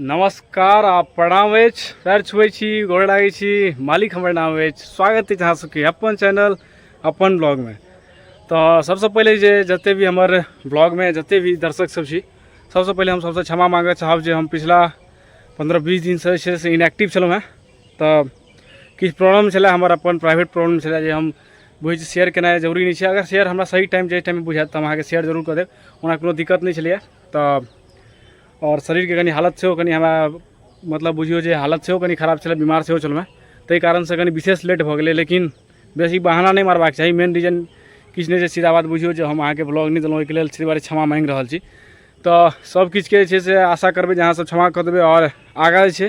नमस्कार आ प्रणाम अछि पैर छुए छी गोड़ लागै छी मालिक हमर नाम अछि स्वागत अछि अहाँ सबके अपन चैनल अपन ब्लॉगमे तऽ सबसँ पहिले जे जते भी हमर ब्लॉगमे जते भी दर्शक सब छी सबसँ पहिले हम सबसँ क्षमा माँगऽ चाहब जे हम पिछला पन्द्रह बीस दिनसँ जे छै से इनएक्टिव छलहुँ हेँ तऽ किछु प्रॉब्लम छलै हमर अपन प्राइवेट प्रॉब्लम छलै जे हम बुझै छी शेयर केनाइ जरूरी नहि छै अगर शेयर हमरा सही टाइम जाहि टाइममे बुझाएत तऽ हम अहाँके शेयर जरूर कऽ देब ओना कोनो दिक्कत नहि छलैए तऽ आओर शरीरके कनि हालत सेहो कनि हमरा मतलब बुझिऔ जे हालत सेहो कनि खराब छलै बेमार सेहो छलहुँ हेँ ताहि कारणसँ कनि विशेष लेट भऽ गेलै लेकिन बेसी बहाना नहि मारबाक चाही मेन रीजन किछु नहि छै सीधा बात बुझिऔ जे हम अहाँके ब्लॉग नहि देलहुँ ओहिके लेल ताहि दुआरे क्षमा माँगि रहल छी तऽ सबकिछुके जे छै से आशा करबै जे अहाँसभ क्षमा कऽ देबै आओर आगाँ जे छै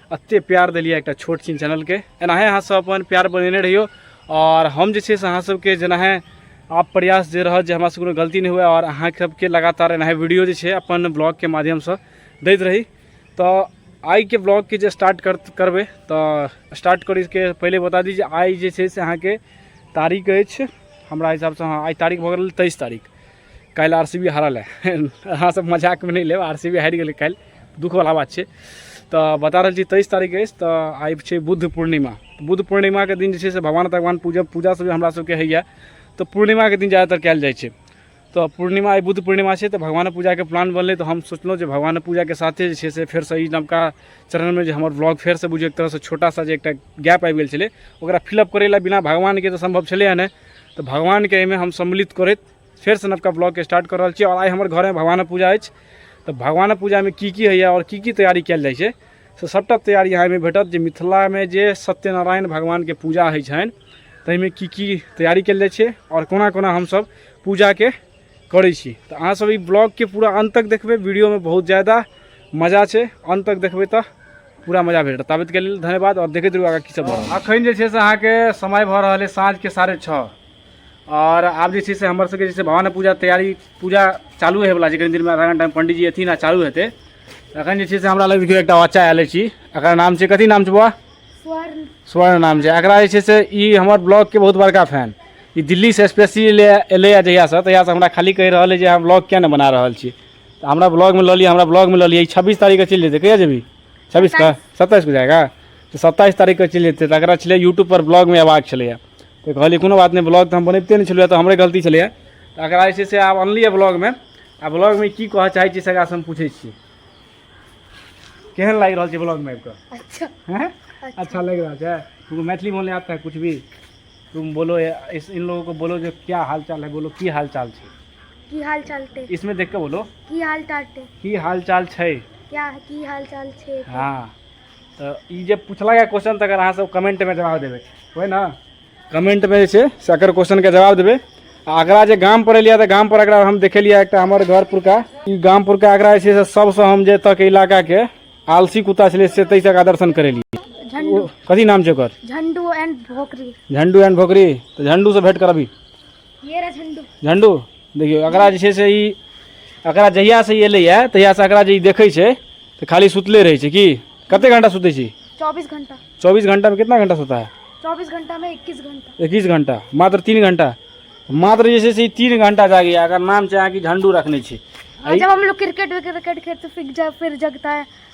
एते प्यार दिलियै एकटा छोट छिन चैनलके एनाहे अहाँ सब अपन प्यार बनेने रहियो और हम जे छै से अहाँ सबके जेनाहे आप प्रयास दे रहल जे हमरा से कोनो गलती नहीं हुए और अहाँ सबके लगातार एनाहे वीडियो जे छै अपन ब्लॉग के माध्यम से दैत रही तो आई के ब्लॉग के जे स्टार्ट कर करबे तो स्टार्ट कर के पहले बता दी जे आई जे छै से अहाँ के तारीख अछि हमरा हिसाब से हाँ आई तारीख भऽ गेल तेईस तारीख काल्हि आर सी बी हारल है अहाँसभ मजाकमे नहि लेब आर सी बी हारि गेलै काल्हि दुखवला बात छै तऽ बता रहल छी तेइस तारीख अछि तऽ आइ छै बुद्ध पूर्णिमा बुद्ध पूर्णिमाके दिन जे छै से भगवान भगवान पूजा पूजा सब हमरा सबके होइए तऽ पूर्णिमाके दिन ज़्यादातर कयल जाइ छै तऽ पूर्णिमा आइ बुद्ध पूर्णिमा छै तऽ भगवान पूजाके प्लान बनलै तऽ हम सोचलहुँ जे भगवान पूजाके साथे जे छै से फेरसँ ई नवका चरणमे जे हमर ब्लॉग फेरसँ बुझियौ एक तरहसँ छोटा सा जे एकटा गैप आबि गेल छलै ओकरा फिलअप करै लए बिना भगवानके तऽ सम्भव छलै नहि तऽ भगवानके एहिमे हम सम्मिलित करैत फेरसँ नवका ब्लॉगके स्टार्ट कऽ रहल छी आओर आइ हमर घरमे भगवानक पूजा अछि तऽ भगवानक पूजामे की की होइए आओर की की तैयारी कयल जाइ छै से सभटा तैयारी अहाँ एहिमे भेटत जे मिथिलामे जे सत्यनारायण भगवानके पूजा होइ छनि ताहिमे की की तैयारी कयल जाइ छै आओर कोना कोना हमसभ पूजाके करै छी तऽ अहाँसभ ई ब्लॉगके पूरा अन्त तक देखबै वीडियोमे बहुत ज्यादा मजा छै अन्त तक देखबै तऽ पूरा मजा भेटत ताबतके लेल धन्यवाद आओर देखैत रहू आगाँ की सब भऽ रहल अखन जे छै से अहाँके समय भऽ रहल अछि साँझके साढ़े छओ आओर आब जे छै से हमर सबके जे छै भवानी पूजा तैयारी पूजा चालू होइ वाला छै कनि दिनमे आधा घंटामे पंडीजी एथिन आ चालू हेतै अखन जे छै से हमरा लग देखियौ एकटा बच्चा आयल छी एकर नाम छै कथी नाम छै बौआ स्वर्ण स्वर्ण नाम छै एकरा जे छै से ई हमर ब्लॉगके बहुत बड़का फैन ई दिल्लीसँ स्पेशली एलै है जहियासँ तहियासँ हमरा खाली कहि रहल है जे हम ब्लॉग किया नहि बना रहल छी तऽ हमरा ब्लॉगमे लऽ लिअ हमरा ब्लॉगमे लऽ लिअ ई छब्बीस तारीखके चलि जेतै कहिया जेबी छब्बीसके सत्ताइसके जाएगा तऽ सत्ताइस तारीखके चलि जेतै तऽ एकरा छलै यूट्यूबपर ब्लॉगमे अयबाक छलैए तऽ कहलियै कोनो बात नहि ब्लॉग तऽ हम बनबिते नहि छलहुँ तऽ हमरे गलती छलैए तऽ एकरा जे छै से आब अनलियै ब्लॉगमे आ ब्लॉगमे की कहऽ चाहै छी से हम पूछै छी केहन लागि रहल छै ब्लॉगमे आबि कऽ अच्छा।, अच्छा।, अच्छा लागि रहल छै तुमको मैथिली बोलने आता है कुछ भी तुम बोलो इस इन लोगों को बोलो जो क्या हाल चाल है बोलो की हाल चाल छै की हाल चाल छै इसमें देख के बोलो की हाल चाल छै की हाल चाल छै क्या की हाल चाल छै हाँ तऽ ई जे पुछलक है क्वेश्चन तकर अहाँ सब कमेंट में जवाब देबै कोई ना कमेंट में जे छै से एकर क्वेश्चन के जवाब देबै आ अगरा जे गाम पर एलियै तऽ गाम पर अगरा हम देखेलियै एकटा हमर घर पुरका ई गाम पुरका अगरा जे छै से सबसँ हम जे तक इलाका के आलसी कुत्ता छलै से तै तक दर्शन करेलियै झंडू ओ कथी नाम छै ओकर झंडू एंड भोकरी झंडू एंड भोकरी तऽ झंडू से भेंट करबी ये रहा झंडू झंडू देखियो एकरा जे छै से ई एकरा जहिया से ई एलैए तहिया से एकरा जे ई देखै छै तऽ खाली सुतले रहै छै की कते घंटा सुतै छी चौबीस घंटा चौबीस घंटा में कितना घंटा सोता है चौबीस घंटा में इक्कीस घंटा इक्कीस घंटा मात्र तीन घंटा मात्र जे छै से ई तीन घंटा जागैए एकर नाम छै अहाँके झंडू रखने छी हाँ, जब हम लोग क्रिकेट विकेट खेलते फिर जब फिर जगता है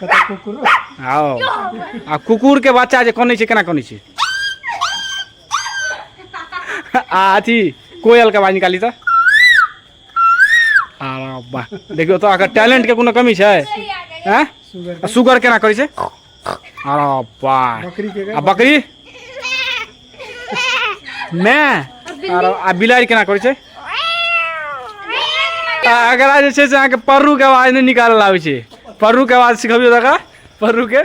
कतऽ कुकुर आओ आ कुकुरके बच्चा जे कनै छै केना कनै छै आ अथी कोयलके आवाज निकाली तऽ आ वाह देखियौ तऽ अगर टैलेंटके कोनो कमी छै आँय सुगर आ सुगर केना करै छै आ वाह बकरी के आ बकरी मै आर आ बिलाड़ि केना करै छै आ एकरा जे छै से अहाँके पर्रूके आवाज नहि निकालल आबै छै पर्रूके आवाज सिखबियौ तऽ एकरा पर्रूके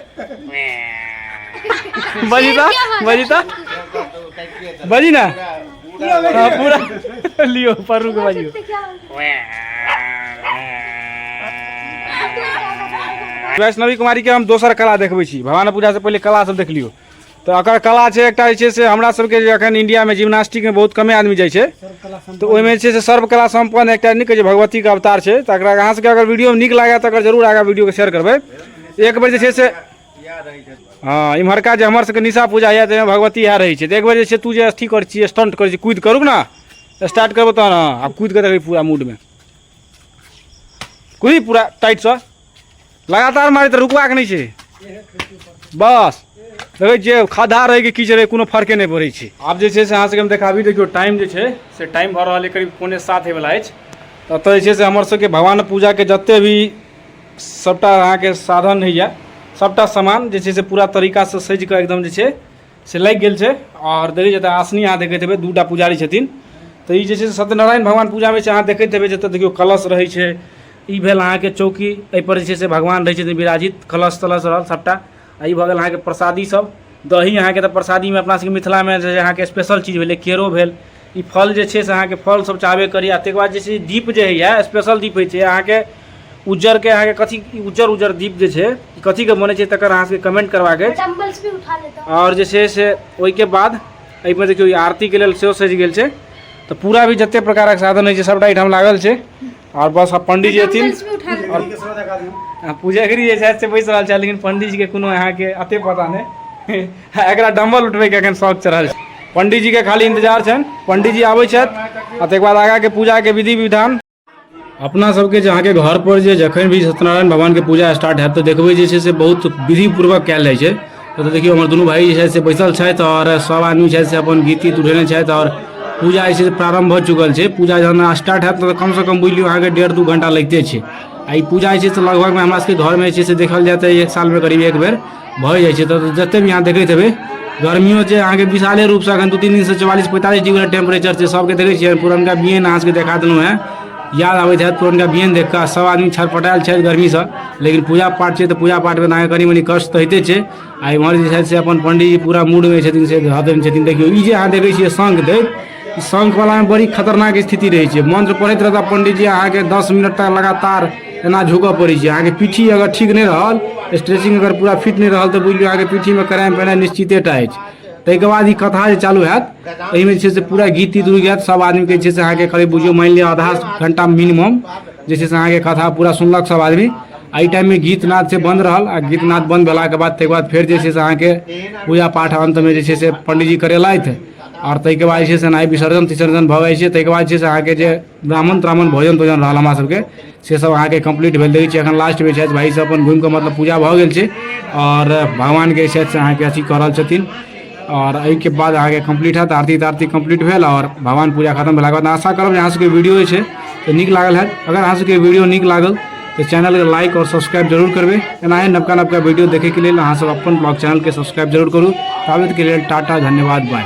बजी तऽ बजी तऽ बजी ने हाँ, पूरा लियो परू के बाजियो वैष्णवी कुमारी के हम दोसर कला देखबै छी भवानी पूजा से पहिले कला सब देख लियो तऽ एकर कला छै एकटा जे छै से हमरा सबके जे एखन इंडियामे जिम्नास्टिकमे बहुत कमे आदमी जाइ छै तऽ ओहिमे जे छै से सर्वकला सम्पन्न एकटा नीक छै भगवतीके अवतार छै तऽ एकरा अहाँ सबके अगर वीडियो नीक लागै तऽ अगर जरूर आगा वीडियोके शेयर करबै एक बेर जे छै से हँ इम्हरका जे हमर सबके निशा पूजा होइए ताहिमे भगवती इएह रहै छै तऽ एक बेर जे छै तू जे अथी करै छियै स्टंट करै छियै कुद करू ने स्टार्ट करबो तहन हँ आब कुदि कऽ देखबै पूरा मूडमे कुदी पूरा टाइटसँ लगातार मारे तऽ रुकबाक नहि छै बस देखै छियै खद्धा रहै कि कीच रहै कोनो फर्के नहि पड़ै छै आब जे छै से अहाँसभके हम देखाबी देखियौ टाइम जे छै से टाइम भऽ रहल अइ करीब पौने सात होइवला अछि तऽ एतऽ जे छै से हमरसभके भगवान पूजाके जतेक भी सभटा अहाँके साधन होइए सभटा सामान जे छै से पूरा तरीकासँ सजि कऽ एकदम जे छै से लागि गेल छै आओर देखै छियै तऽ आसनी अहाँ देखैत हेबै दूटा पुजारी छथिन तऽ ई जे छै से सत्यनारायण भगवान पूजामे छै अहाँ देखैत हेबै जतऽ देखियौ कलश रहै छै ई भेल अहाँके चौकी एहिपर जे छै से भगवान रहै छथिन विराजित कलश तलश रहल सभटा आ ई भऽ गेल अहाँके प्रसादी सभ दही अहाँके तऽ प्रसादीमे अपना सभके मिथिलामे जे अहाँके स्पेशल चीज भेलै केरो भेल ई फल जे छै से अहाँके फल सब चाहबे करी आ तकर बाद जे छै दीप जे होइए स्पेशल दीप होइ छै अहाँके उज्जरके अहाँके कथी उज्जर उज्जर दीप जे छै कथीके बनै छै तकर अहाँ सबके कमेंट करबाक अछि आओर जे छै से ओहिके बाद एहिमे देखियौ आरतीके लेल सेहो सजि गेल छै तऽ पूरा भी जतेक प्रकारक साधन होइ छै सभटा एहिठाम लागल छै आओर बस आब पंडीजी एथिन आ पूजगरी जे छथि से बैस रहल छथि लेकिन पंडीजीके कोनो अहाँके अते पता नहि एकरा डम्बल उठबैके एखन शौक चढ़ल छै पंडीजीके खाली इंतजार छनि पंडीजी आबै छथि आ तकर बाद आगाँके पूजाके विधि विधान अपना सबके जे अहाँके घरपर जे जखन भी सत्यनारायण भगवानके पूजा स्टार्ट हैत तऽ देखबै जे छै से बहुत विधिपूर्वक कयल जाइ छै तो तो देखियो हमर दोनों भाई जे छै से बैसल छथि और सब आदमी छै से अपन गीत तीत उठेने छथि और पूजा जे छै से प्रारंभ भऽ चुकल छै पूजा जहन स्टार्ट हैत तऽ कमसँ कम बुझि लियौ अहाँके डेढ़ दू घंटा लगिते छै आ ई पूजा जे छै से लगभगमे हमरा सबके घरमे जे छै से देखल जाय तऽ एक सालमे करीब एक बेर भऽ जाइ छै तऽ जतेक भी अहाँ देखैत हेबै गर्मियो छै अहाँके विशाले रूपसँ एखन दू तीन दिनसँ चौवालीस पैंतालीस डिग्री टेम्परेचर छै सबके देखै छियै पुरनका बियैन अहाँ सबके देखा देलहुँ हेँ याद आबैत हैत पुरनका बियन देख कऽ सभ आदमी छटपटायल छथि गर्मीसँ लेकिन पूजा पाठ छै तऽ पूजा पाठमे तऽ अहाँके कनि मनि कष्ट तऽ होइते छै आ इम्हर जे छथि से अपन पंडीजी पूरा मूडमे छथिन से हतन छथिन देखियौ ई जे अहाँ देखै छियै शंख दैत ई शंखवलामे बड़ी खतरनाक स्थिति रहै छै मंत्र पढ़ैत रहता पंडीजी अहाँके दस मिनट तक लगातार एना झुकऽ पड़ै छै अहाँके पीठी अगर ठीक नहि रहल स्ट्रेचिंग अगर पूरा फिट नहि रहल तऽ बुझि लियौ अहाँके पीठीमे कराएम पेनाइ निश्चितेटा अछि ताहिके बाद ई कथा जे चालू हैत एहिमे जे छै से पूरा गीत तीत रुकि जायत सभ आदमीके जे छै से अहाँके करीब बुझियौ मानि लिअ आधा घंटा मिनिमम जे छै से अहाँके कथा पूरा सुनलक सभ आदमी एहि टाइममे गीत नाद से बन्द रहल आ गीत नाद बन्द भेलाके बाद ताहिके बाद फेर जे छै से अहाँके पूजा पाठ अन्तमे जे छै से पण्डीजी करेलथि आओर ताहिके बाद जे छै से एनाही विसर्जन तिसर्जन भऽ जाइ छै ताहिके बाद जे छै से अहाँके जे ब्राह्मण त्राह्मण भोजन तोजन रहल हमरा सबके से सब अहाँके कम्प्लीट भेल देखै छियै एखन लास्टमे छथि भाइ सब अपन घुमि कऽ मतलब पूजा भऽ गेल छै आओर भगवानके छथि से अहाँके अथी कऽ रहल छथिन आओर एहिके बाद अहाँके कम्प्लीट हैत आरती तारती कम्प्लीट भेल आओर भगवान पूजा खतम भेलाके बाद आशा करब जे अहाँ सबके वीडियो जे छै से नीक लागल हैत अगर अहाँ सबके वीडियो नीक लागल तऽ चैनलके लाइक आओर सब्सक्राइब जरूर करबै एनाहे नवका नवका वीडियो देखैके लेल अहाँ सब अपन ब्लॉग चैनलके सब्सक्राइब जरूर करू ताबतके लेल टाटा धन्यवाद बाय